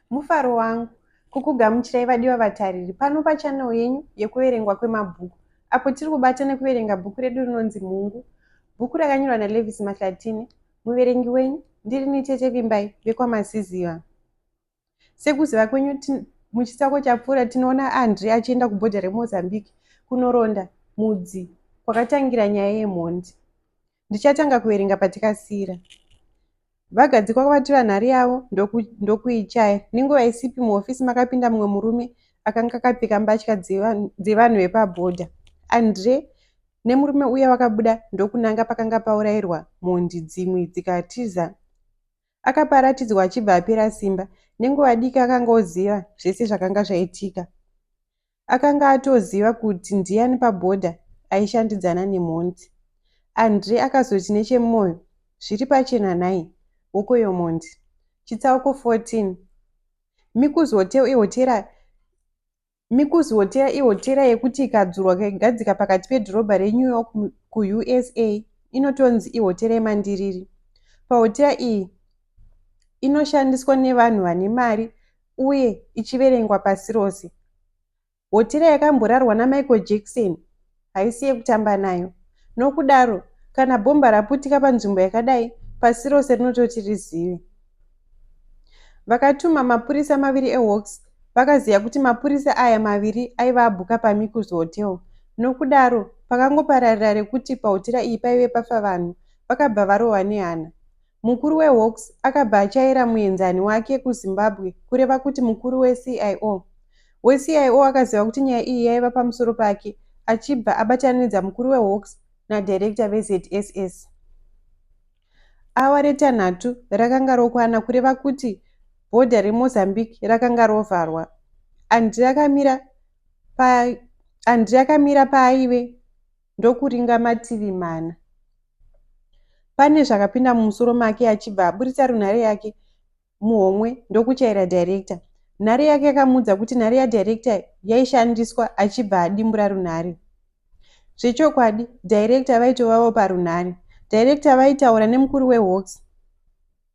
mufaro wangu kukugamuchirai vadiwa vatariri pano pachanel yenyu yekuverengwa kwemabhuku apo tiri kubata nekuverenga bhuku redu rinonzi mhungu bhuku rakanyorwa nalevis mahlatine Muverengi wenyu ndirini Tete Vimbai vekwaMasiziva. Sekuziva kwenyu muchitsako chapfuura tinoona Andri achienda kubhodha reMozambique kunoronda mudzi kwakatangira nyaya yemhondi. Ndichatanga kuverenga patikasira. Vagadzikwa kwavatura nhari yavo ndokuichaya. Nenguva isipi muhofisi makapinda mumwe murume akanga akapfeka mbatya dzevanhu vepabhodha. Andre nemurume uya vakabuda ndokunanga pakanga paurairwa mhondi dzimwe dzikatiza akapa aratidzwa achibva apera simba nenguva diki akanga oziva zvese zvakanga zvaitika akanga atoziva kuti ndiyani pabhodha aishandidzana nemhondi andre akazoti nechemwoyo zviri pachena nhai hokoyo mhondi chitsauko 14 mikuzote ehotera Mikuzi Hotera ihotera yekuti ikadzurwa kaigadzika pakati pedhorobha reNew York kuUSA inotonzi ihotera yemandiriri. Pahotera iyi inoshandiswa nevanhu vane mari uye ichiverengwa pasi rose. Hotera yakamborarwa naMichael Jackson haisi yekutamba nayo. Nokudaro, kana bhomba raputika panzvimbo yakadai, pasi rose rinototi rizive. Vakatuma mapurisa maviri eHawks vakaziva kuti mapurisa aya maviri aiva abhuka paMikus Hotel. Nokudaro, pakangopararira rekuti pahotera iyi paive pafa vanhu, vakabva varohwa nehana. Mukuru weHawks akabva achaira muenzani wake kuZimbabwe kureva kuti mukuru weCIO. WeCIO akaziva kuti nyaya iyi yaiva pamusoro pake achibva abatanidza mukuru weHawks nadirector veZSS. Awa retanhatu rakanga rokwana kureva kuti bhodha reMozambique rakanga rovharwa. Andri akamira pa Andri akamira paaive ndokuringa mativi mana. Pane zvakapinda mumusoro make achibva aburitsa runhare yake muhomwe ndokuchaira director. Nhare yake yakamuudza kuti nhare yadirector yaishandiswa achibva adimbura runhare. Zvechokwadi, director vaitovavo parunhare. Director vaitaura nemukuru wehawks.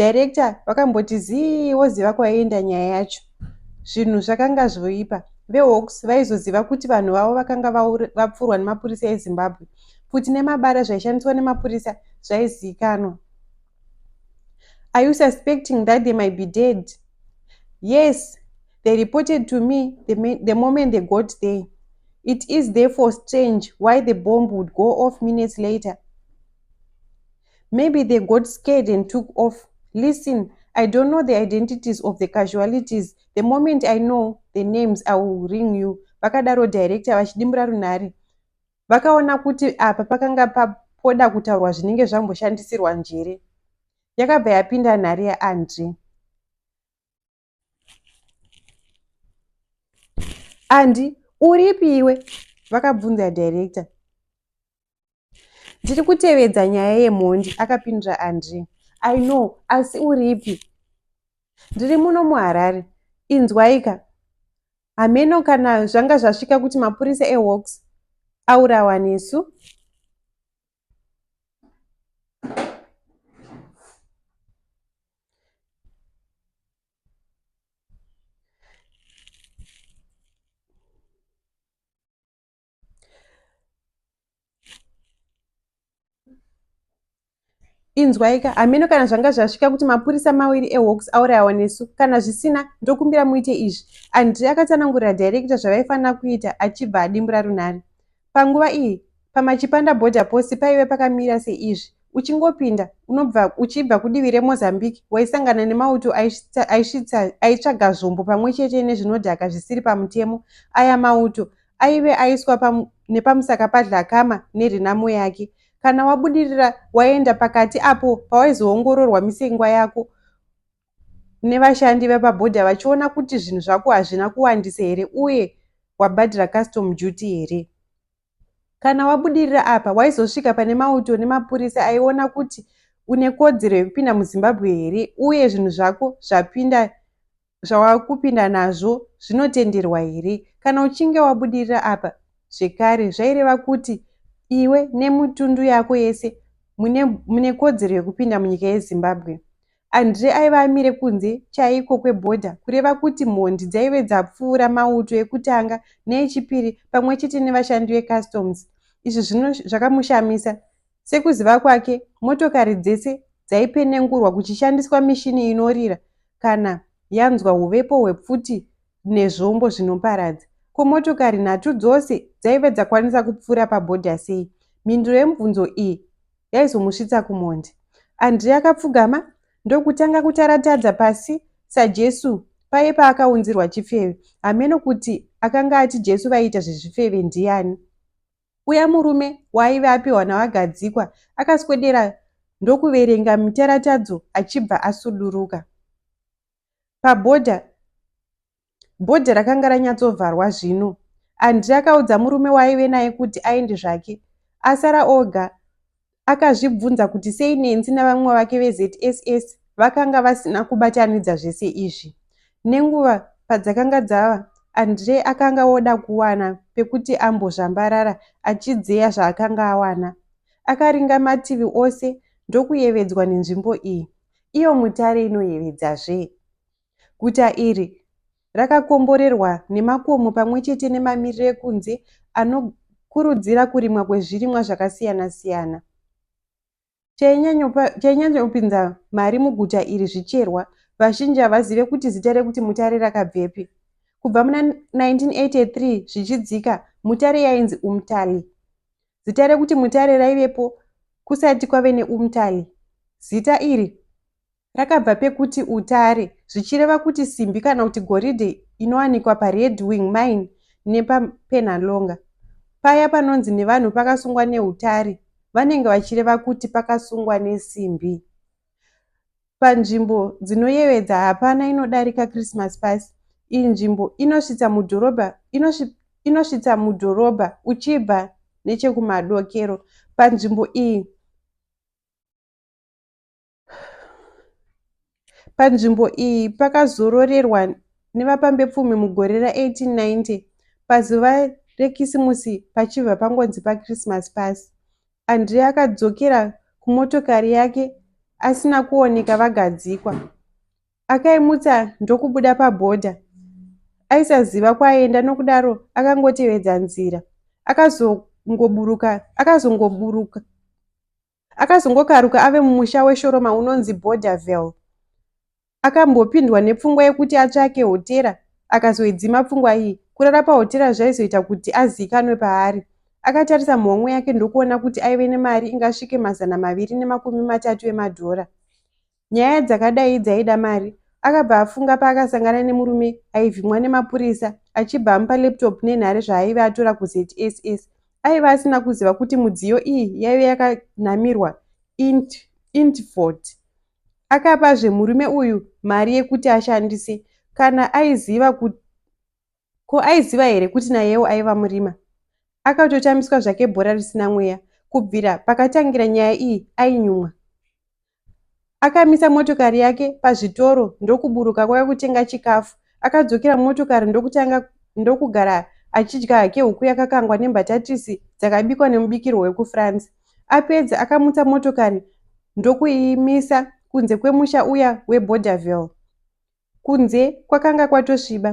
Director vakamboti zii voziva kwaienda nyaya yacho. Zvinhu zvakanga zvoipa. VeHawks vaizoziva kuti vanhu vavo vakanga vapfurwa nemapurisa eZimbabwe. Pfuti nemabara zvaishandiswa nemapurisa zvaizivikanwa. Are you suspecting that they might be dead? Yes, they reported to me the, the moment they got there. It is therefore strange why the bomb would go off minutes later. Maybe they got scared and took off. Listen, I don't know the identities of the casualities. The moment I know the names, I will ring you. Vakadaro director vachidimbura runhare. Vakaona kuti apa pakanga papoda kutaurwa zvinenge zvamboshandisirwa njere. Yakabva yapinda nhare yaAndre. andi uripi iwe vakabvunza director ndiri kutevedza nyaya yemhondi akapindura andri i know asi uripi ndiri muno muharare inzwaika hameno kana zvanga zvasvika kuti mapurisa ehawks aurawa nesu inzwaika hameno kana zvanga zvasvika kuti mapurisa maviri ehawks aurayawa nesu kana zvisina ndokumbira muite izvi andri akatanangurira director zvavaifanira kuita achibva adimbura runhare Panguva iyi, pamaChipanda Border Post paive pakamira seizvi, uchingopinda unobva uchibva kudivi reMozambique waisangana nemauto aitsvaga zvombo pamwe chete nezvinodhaka zvisiri pamutemo. Aya mauto aive aiswa nepamusaka paDhlakama nenhamo yake. Kana wabudirira waenda pakati apo pawaizoongororwa misengwa yako nevashandi vepabhodha vachiona kuti zvinhu zvako hazvina kuwandisa here uye wabhadhira custom duty here. Kana wabudirira apa, waizosvika pane mauto nemapurisa aiona kuti une kodzero yekupinda muzimbabwe here uye zvinhu zvako zvapinda zvawakupinda nazvo zvinotenderwa here kana uchinge wabudirira apa zvekare zvaireva kuti iwe nemutundu yako yese mune, mune kodzero yekupinda munyika yezimbabwe Andre aiva amire kunze chaiko kwebhodha kureva kuti mhondi dzaive dzapfuura mauto ekutanga neechipiri pamwe chete nevashandi vecustoms. Izvi zvino zvakamushamisa. Sekuziva kwake, motokari dzese dzaipenengurwa kuchishandiswa mishini inorira kana yanzwa huvepo hwepfuti nezvombo zvinoparadza. Ko motokari nhatu dzose dzaive dzakwanisa kupfuura pabhodha sei? Mhinduro yemubvunzo iyi yaizomusvitsa kumhondi. Andrea akapfugama ndokutanga kutaratadza pasi saJesu paye paakaunzirwa chifeve. Hameno kuti akanga ati Jesu vaiita zvezvifeve ndiani. Uya murume waaive apiwa naVagadzikwa akaswedera ndokuverenga mitaratadzo achibva asuduruka. Pabhodha Bhodhi rakanga ranyatsovharwa zvino. Andrei akaudza murume waaive naye kuti aende zvake. Asara oga akazvibvunza kuti sei Nenzi navamwe vake veZSS vakanga vasina kubatanidza zvese izvi. Nenguva padzakanga dzava, Andrei akanga oda kuwana pekuti ambozvambarara achidzeya zvaakanga awana. Akaringa mativi ose ndokuyevedzwa nenzvimbo iyi. Iyo mutare inoyevedza zvee. Guta iri rakakomborerwa nemakomo pamwe chete nemamiriro ekunze anokurudzira kurimwa kwezvirimwa zvakasiyana-siyana. Chainyanyopinza mari muguta iri zvicherwa. Vazhinji havazive kuti zita rekuti mutare rakabvepi. Kubva muna 1983 zvichidzika, mutare yainzi umtali. Zita rekuti mutare raivepo kusati kwave neumtali. Zita iri Rakabva pekuti utare, zvichireva kuti simbi kana kuti goridhe inowanikwa paRed Wing Mine nepaPenhalonga. Paya panonzi nevanhu pakasungwa neutare vanenge vachireva kuti pakasungwa nesimbi. Panzvimbo dzinoyevedza hapana inodarika Christmas Pass. Iyi nzvimbo inosvitsa mudhorobha inosvitsa mudhorobha uchibva nechekumadokero. Panzvimbo iyi Panzvimbo iyi pakazororerwa nevapambepfumi mugore ra 1890 pazuva rekisimusi pachibva pangonzi pachristmas pass. Andre akadzokera kumotokari yake asina kuoneka vagadzikwa. Akaimutsa ndokubuda pabhodha. Aisaziva kwaienda nokudaro akangotevedza nzira. Akazongoburuka akazongoburuka Akazongokaruka ave mumusha weShoroma unonzi Borderville. Akambopindwa nepfungwa yekuti atsvake hotera, akazoidzima pfungwa iyi. Kurara pahotera zvaizoita kuti aziikanwe paari. Akatarisa muhomwe yake ndokuona kuti aive nemari ingasvike mazana maviri nemakumi matatu emadhora. nyaya dzakadai dzaida mari akabva afunga paakasangana nemurume aivhimwa nemapurisa achibva amupa laptop nenhare zvaaive atora kuzss aiva asina kuziva kuti mudziyo iyi yaive yakanamirwa int intfort akapazve murume uyu mari yekuti ashandise kana aiziva kuti ko aiziva here kuti nayewo aiva murima akatotambiswa zvake bhora risina mweya kubvira pakatangira nyaya iyi ainyumwa Akamisa motokari yake pazvitoro ndokuburuka kwave kutenga chikafu. Akadzokera mumotokari ndokutanga ndokugara achidya hake huku yakakangwa nembatatisi dzakabikwa nemubikirwo wekuFrance. Apedza akamutsa motokari ndokuimisa kunze kwemusha uya weBorderville. Kunze kwakanga kwatosviba.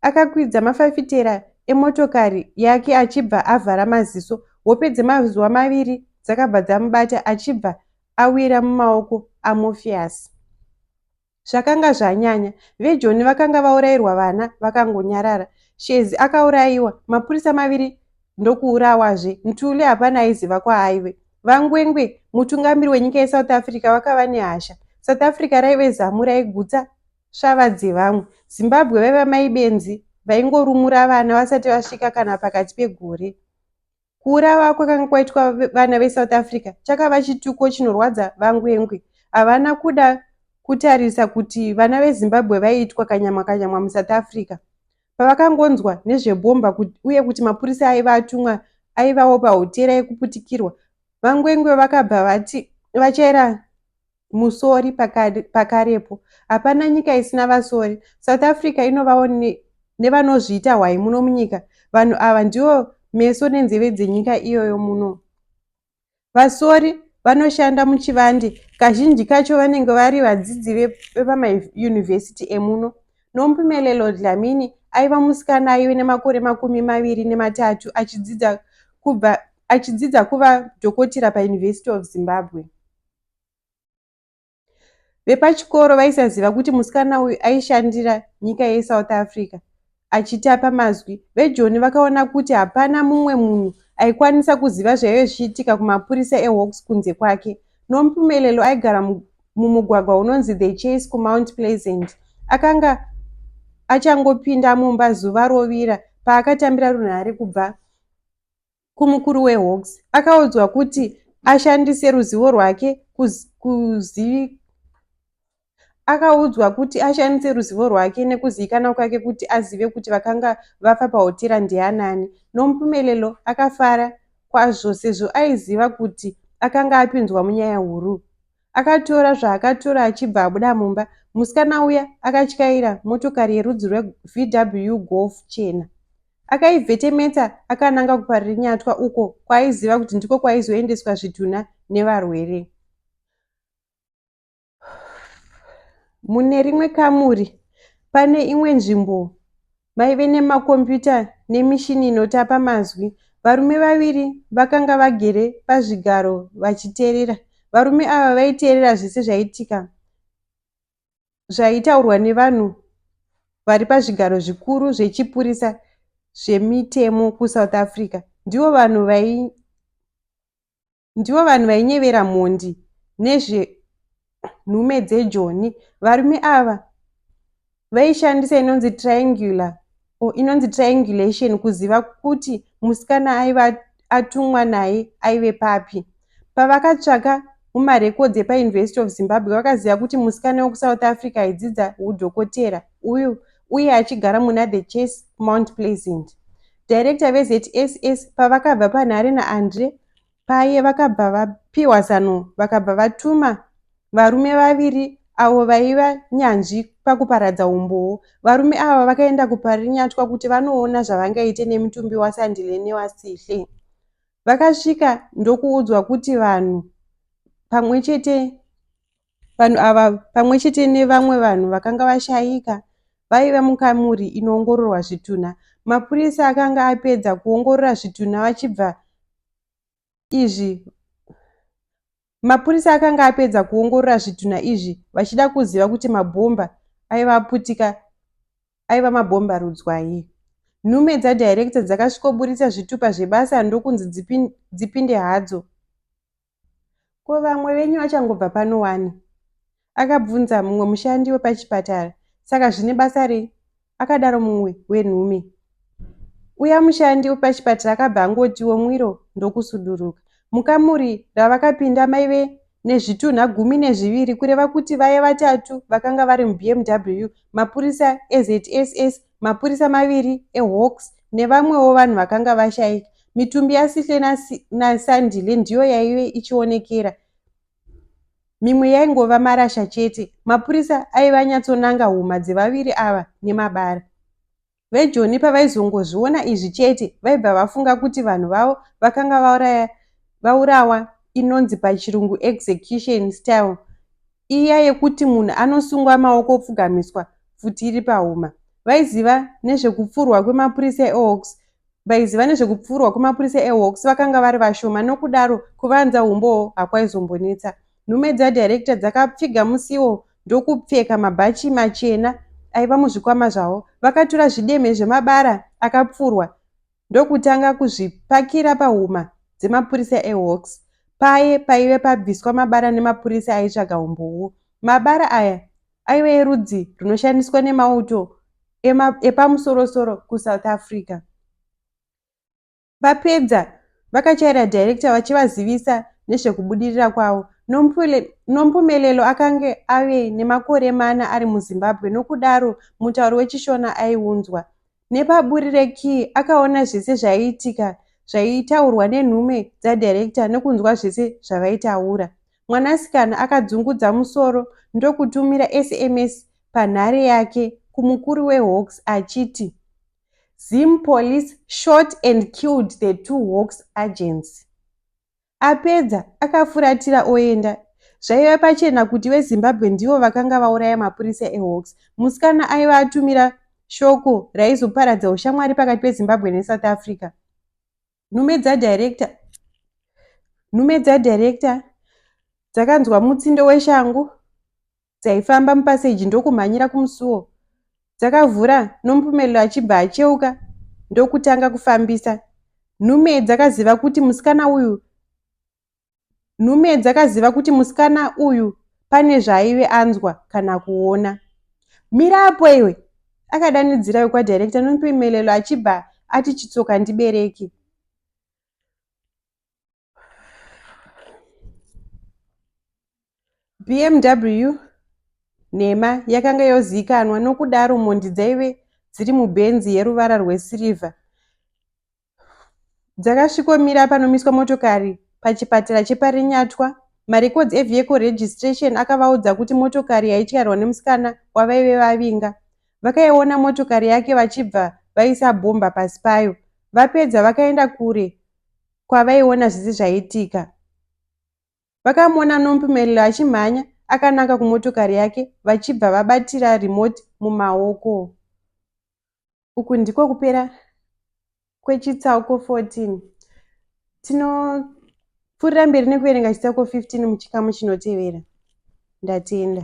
Akakwidza mafafitera emotokari yake achibva avhara maziso. Hope dzemazuva maviri dzakabva dzamubata achibva awira mumaoko aMorpheus. Zvakanga zvanyanya. VeJoni vakanga vaurairwa vana vakangonyarara. Shezi akaurayiwa. Mapurisa maviri ndokuurawazve. Ntuli hapana aiziva kwaaive. VaNgwengwe, mutungamiri wenyika yeSouth Africa, vakava nehasha. South Africa raive zamu raigutsa svava dzevamwe. Zimbabwe vaiva mai benzi vaingorumura vana vasati vasvika kana pakati pegore. Kuurawa kwakanga kwaitwa vana veSouth Africa chakava chituko chinorwadza VaNgwengwe. Havana kuda kutarisa kuti vana veZimbabwe vaiitwa kanyamwa kanyamwa muSouth Africa. Pavakangonzwa nezvebhomba uye kuti mapurisa aiva atumwa aivawo pahotera yekuputikirwa, VaNgwengwe vakabva vati vachaira musori pakarepo. Hapana nyika isina vasori. South Africa inovawo nevanozviita hwai muno munyika. Vanhu ava ndivo meso nenzeve dzenyika iyoyo muno. Vasori vanoshanda muchivande kazhinji kacho vanenge vari vadzidzi vepamayunivhesiti emuno. Nompumelelo Dlamini aiva musikana aive nemakore makumi maviri nematatu achidzidza kubva achidzidza kuva dhokotera paUniversity of Zimbabwe. Vepachikoro vaisaziva kuti musikana uyu aishandira nyika yeSouth Africa achitapa mazwi. VeJoni vakaona kuti hapana mumwe munhu aikwanisa kuziva zvaive zvichiitika kumapurisa eHawks kunze kwake. Nompumelelo aigara mumugwagwa unonzi The Chase kuMount Pleasant. Akanga achangopinda mumba zuva rovira paakatambira runhare kubva kumukuru wehawks akaudzwa kuti ashandise ruzivo rwake kuzivi akaudzwa kuti ashandise ruzivo rwake nekuzivikanwa kwake kuti azive kuti vakanga vafa pahotera ndianani nomupumelelo akafara kwazvo sezvo aiziva kuti akanga apinzwa munyaya huru akatora zvaakatora achibva abuda mumba musikana uya akatyaira motokari yerudzi rwevw golf chena Akaivhetemeta akananga kuParirinyatwa uko kwaaiziva kuti ndiko kwaizoendeswa zvitunha nevarwere. Mune rimwe kamuri pane imwe nzvimbo maive nemakombiyuta nemishini inotapa mazwi. Varume vaviri vakanga vagere pazvigaro vachiteerera. Varume ava vaiteerera zvese zvaitika. zvaitaurwa nevanhu vari pazvigaro zvikuru zvechipurisa zvemitemo kusouth africa ndivo vanhu vai ndivo vanhu vainyevera mhondi nezvenhume dzejoni varume ava vaishandisa inonzi triangular or inonzi triangulation kuziva kuti musikana aiva atumwa naye aive papi pavakatsvaka mumarekodzi epauniversity of zimbabwe vakaziva kuti musikana wekusouth africa aidzidza udhokotera uyu uye achigara muna the chase mount pleasant director vezss pavakabva panhare naandre Paye vakabva vapiwa zano vakabva vatuma varume vaviri avo vaiva nyanzvi pakuparadza umbowo. Varume ava vakaenda kuParinyatwa kuti vanoona zvavangaite nemutumbi waSandile newaSihle. Vakasvika ndokuudzwa kuti vanhu pamwe chete Vanhu ava pamwe chete nevamwe vanhu vakanga vashaika vaiva mukamuri inoongororwa zvitunha. Mapurisa akanga apedza kuongorora zvitunha vachibva izvi mapurisa akanga apedza kuongorora zvitunha izvi vachida kuziva kuti mabhomba aiva aputika aiva mabhomba rudzwai nhume dzadirector dzakasvikoburitsa zvitupa zvebasa ndokunzi dzipinde hadzo Ko vamwe venyu vachangobva pano wani? Akabvunza mumwe mushandi wepachipatara. Saka zvine basa rei? Akadaro mumwe wenhume. Uya mushandi wepachipatara akabva angotiwo mwiro ndokusuduruka. Mukamuri ravakapinda maive nezvitunha gumi nezviviri kureva kuti vaye vatatu vakanga vari muBMW mapurisa eZSS mapurisa maviri ehawks nevamwewo vanhu vakanga vashaika mitumbi yasihle nasandile ndiyo yaive ichionekera mimwe yaingova marasha chete mapurisa aive anyatsonanga huma dzevaviri ava nemabara vejoni pavaizongozviona izvi chete vaibva vafunga kuti vanhu vavo vakanga vaurawa inonzi pachirungu execution style iya yekuti munhu anosungwa maoko opfugamiswa pfuti iri pahuma. Vaiziva nezvekupfurwa kwemapurisa eHawks vaiziva nezvekupfurwa kwemapurisa eHawks vakanga vari vashoma nokudaro kuvanza umbowo hakwaizombonetsa. Nhume dzadirector dzakapfiga musiwo ndokupfeka mabhachi machena aiva muzvikwama zvavo. Vakatura zvidemhe zvemabara akapfurwa ndokutanga kuzvipakira pahuma dzemapurisa eHawks paye paive pabviswa mabara nemapurisa aitsvaga humbowo. Mabara aya aive erudzi rwunoshandiswa nemauto epamusorosoro kuSouth Africa. Vapedza vakachaira director vachivazivisa nezvekubudirira kwavo. Nompumelelo akange ave nemakore mana ari muZimbabwe nokudaro mutauro weChishona aiunzwa. Nepaburi rekey akaona zvese zvaiitika zvaitaurwa nenhume dzadirector nekunzwa zvese zvavaitaura. Mwanasikana akadzungudza musoro ndokutumira sms panhare yake kumukuru wehawks achiti, Zim police shot and killed the two hawks agents. Apedza, akafuratira oenda. Zvaiva pachena kuti veZimbabwe ndivo vakanga vauraya mapurisa eHawks. Musikana aiva atumira shoko raizoparadza ushamwari pakati peZimbabwe neSouth Africa. Nhume dzadirector nhume dzadirector dzakanzwa mutsindo weshangu dzaifamba mupaseji ndokumhanyira kumusuwo dzakavhura nomupumelelo achibva acheuka ndokutanga kufambisa nhume dzakaziva kuti musikana uyu nhume dzakaziva kuti musikana uyu pane zvaaive anzwa kana kuona mira apo iwe akadanidzira wekwadhirekta nomupumelelo achibva ati chitsoka ndibereke bmw nhema yakanga yozivikanwa nokudaro mhondi dzaive dziri mubhenzi yeruvara rwesirivha dzakasvikomira panomiswa motokari pachipatara cheparinyatwa marecords evehicle registration akavaudza kuti motokari yaityairwa nemusikana wavaive vavinga vakaiona motokari yake vachibva vaisa bhomba pasi payo vapedza vakaenda kure kwavaiona zvese zvaiitika. Vakamuona Nompumelelo achimhanya akananga kumotokari yake vachibva vabatira remote mumaoko. Uku ndiko kupera kwechitsauko 14. Tinopfuurira mberi nekuverenga chitsauko 15 muchikamu chinotevera. Ndatenda.